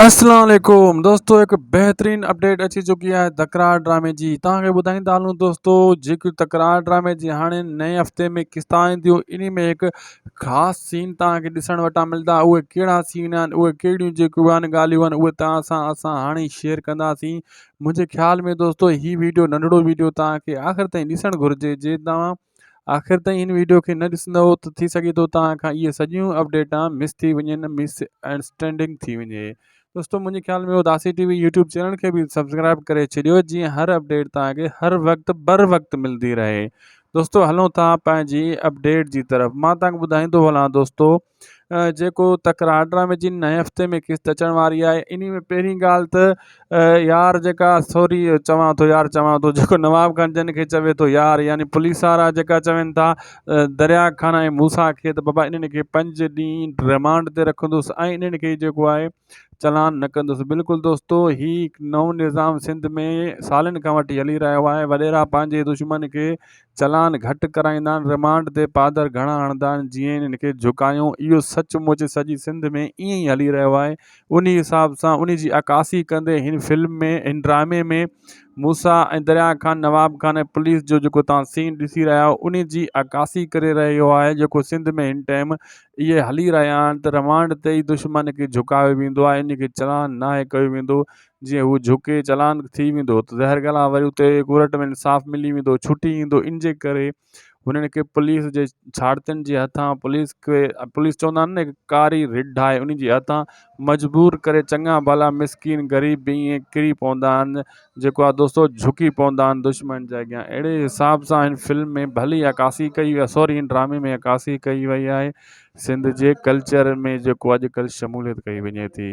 اسلام عليڪم دوستو هڪ بهترين اپڊيٽ اچي چڪي آهي تڪرار ڊرامي جي توهان کي ٻڌائيندا هلون دوستو جيڪي تڪرار ڊرامي جي هاڻي نئين هفتي ۾ قسطا اينديون انهي ۾ هڪ خاص سين توهان کي ڏسڻ وٽان ملدا اهي ڪهڙا سين آهن اهي ڪهڙيون جيڪيون آهن ڳالهيون آهن اهي توهان سان اسان هاڻي شيئر ڪنداسين منهنجي خيال ۾ دوستو هي ويڊيو ننڍڙو ويڊيو توهان کي آخر تائين ڏسڻ گهرجي جي توهان آخر تائين هن ويڊيو کي نه ڏسندئو ته ٿي سگهي ٿو توهان کان اهي سڄيون اپڊيٽان مس ٿي وڃن مس انڊرسٽينڊنگ ٿي وڃي دوستو منهنجي خيال ۾ Udasi TV YouTube channel کي به سبسڪرائب ڪري ڇڏيو جيئن هر اپڊيٽ توهان کي هر وقت بر وقت ملندي رهي دوستو هلون ٿا پنهنجي اپڊيٽ جي طرف مان توهان کي ٻڌائيندو هلان دوستو جيڪو تڪ راڊرا ۾ جن نئين هفتي ۾ قسط اچڻ واري آهي انهي ۾ پهرين ڳالهه ته يار جيڪا سوري چوان ٿو يار چوان ٿو جيڪو نواب گنج جن کي چوي ٿو يار يعني پوليس وارا جيڪا چون ٿا دريا خان ۽ موسيٰ کي ته بابا انهن کي پنج ڏينهن رمانڊ تي رکندس ۽ انهن کي جيڪو آهي چلان نه ڪندس. بلڪل دوستو هي نئون نظام سنڌ ۾ سالن کان وٺي هلي رهيو آهي وڏيرا پنهنجي دشمن کي چلان گهٽ ڪرائيندا آهن رمانڊ تي پادر گهڻا هڻدا آهن جئين هن کي جهڪايون اهو سچ مچ سڄي سنڌ ۾ ائين ئي هلي رهيو آهي انهي حساب سان انهي جي عڪاسي ڪندي هن فلم ۾ هن ڊرامي ۾ موسيٰ ۽ دريا خان نواب خان ۽ پوليس جو جيڪو توهان سين ڏسي رهيا آهيو انهي جي عڪاسي ڪري رهيو آهي جيڪو سنڌ ۾ هن ٽائيم اهي هلي رهيا آهن ته روانڊ تي ئي دشمن کي جهڪايو ويندو آهي ان کي چلان ناهي ڪيو ويندو جيئن هو جهڪي چلان ٿي ويندو ته زهر گلا وري اتي ڪورٽ ۾ انصاف ملي ويندو ڇٽي ايندو ان جي ڪري هنن کي پوليس جي ڇاڙتين جي هٿان پوليس کي پوليس چوندا آهن نه ڪاري رڍ آهي ان جي هٿان مجبور ڪري چڱا ڀلا مسڪين غريب به ائين ڪري پوندا آهن جيڪو آ دوستو جهڪي پوندا آهن دشمن جي اڳيان اهڙي حساب سان هن فلم ۾ ڀلي عڪاسي ڪئي وئي سوري هن ڊرامي ۾ عڪاسي ڪئي وئي آهي سنڌ جي ڪلچر ۾ جيڪو اڄڪلهه شموليت ڪئي وڃي ٿي.